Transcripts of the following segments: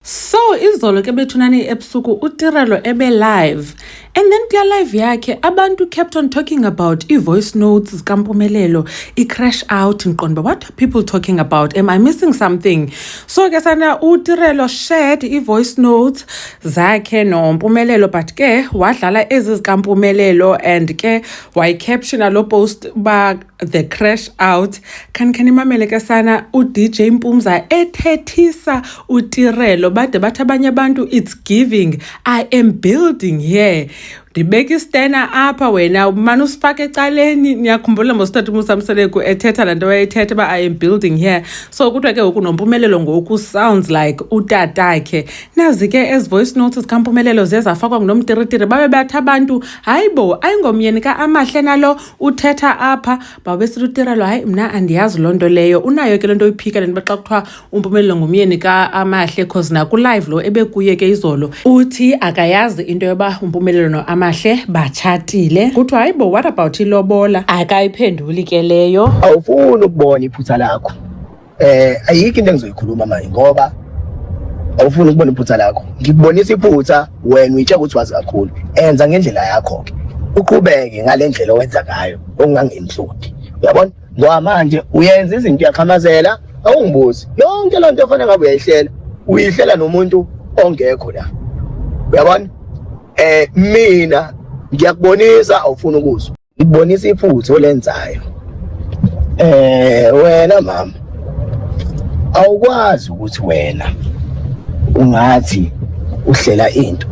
So izolo ke bethunani ebusuku uTirelo ebe live and then kula live yakhe abantu kept on talking about i-voice notes zikampumelelo i-crash out ngiqonda what are people talking about am i missing something so ke sana uTirelo shared i-voice notes zakhe nompumelelo but ke wadlala ezi zikampumelelo and ke wayicaptiona lo post ba the crash out khani khani imamele ke sana udj mpumza ethethisa utirelo bade bathi abanye abantu it's giving i am building here ndibeka istena apha wena umane usifake ecaleni niyakhumbula mosithatha umusamseleku ethetha laa nto wayethetha uba i am building here so kuthiwa ke ngoku nompumelelo ngoku sounds like utatakhe nazi ke ezi voice notes zikampumelelo ziye zafakwa ngunomtiritiri babe bathi abantu hayi bo ayingomyeni ka-amahle nalo uthetha apha babesithi utirelo hayi mna andiyazi loo nto leyo unayo ke le nto uyiphika le nto xa kuthiwa umpumelelo ngumyeni kaamahle cause nakulive lo ebekuye ke izolo uthi akayazi into yoba umpumelelo noamahle batshatile kuthiwa hayi bo what about ilobola akayiphenduli ke leyo awufuni ukubona iphutha lakho Eh ayikho into engizoyikhuluma manje ngoba awufuni ukubona iphutha lakho ngikubonisa iphutha wena uyitshela ukuthi wazi kakhulu enza ngendlela yakho ke uqhubeke ngalendlela owenza ngayo okungangenhloti uyabona ngoba manje uyenza izinto uyaqhamazela awungibuzi yonke loo nto efanele ngabe uyayihlela uyihlela nomuntu ongekho la uyabona eh mina ngiyakubonisa awufuni ukuzwa Ngibonisa iphutha olenzayo. Eh wena mama awukwazi ukuthi wena ungathi uhlela into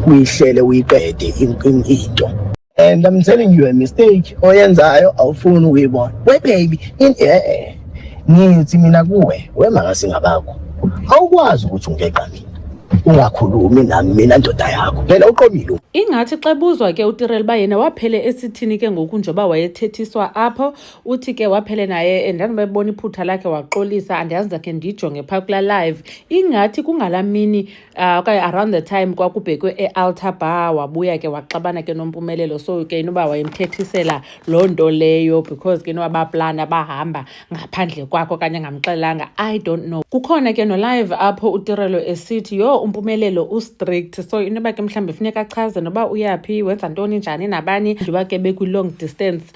uyihlele uyiqede into and i'm telling you a mistake oyenzayo awufuni ukuyibona we baby in eh, eh. ngithi mina kuwe wemakasingabakho awukwazi ukuthi ungeqa mina ungakhulumi nami mina ndoda yakho phela uqomile ingathi xebuzwa ke utirel uba yena waphele esithini ke ngoku njengoba wayethethiswa apho uthi ke waphele naye ndandibebona iphutha lakhe waxolisa andiyazi ndakhe ndiyijonge phaa kula live ingathi kungala mini Uh, okanye around the time kwakubhekwe e-altar bar wabuya ke waxabana ke nompumelelo so ke inoba wayemthethisela loo nto leyo because ke inoba baplana bahamba ngaphandle kwakho okanye ngamxelanga i don't know kukhona ke nolive apho utirelo esithi yho umpumelelo ustrict so inoba ke mhlawumbi funeka achaze noba uyaphi wenza ntoni njani nabani njengoba ke bekwi-long distance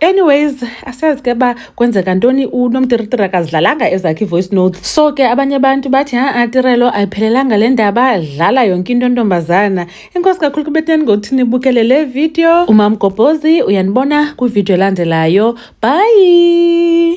anyways asazi ke ba kwenzeka ntoni unomtiritiri akazidlalanga ezakhe i-voice notes so ke abanye abantu bathi ha-a tirelo ayiphelelanga le ndaba dlala yonke into ntombazana inkosi kakhulu kubeteni ngokuthi nibukele le video umamgobhozi uyanibona kwividiyo elandelayo bhayi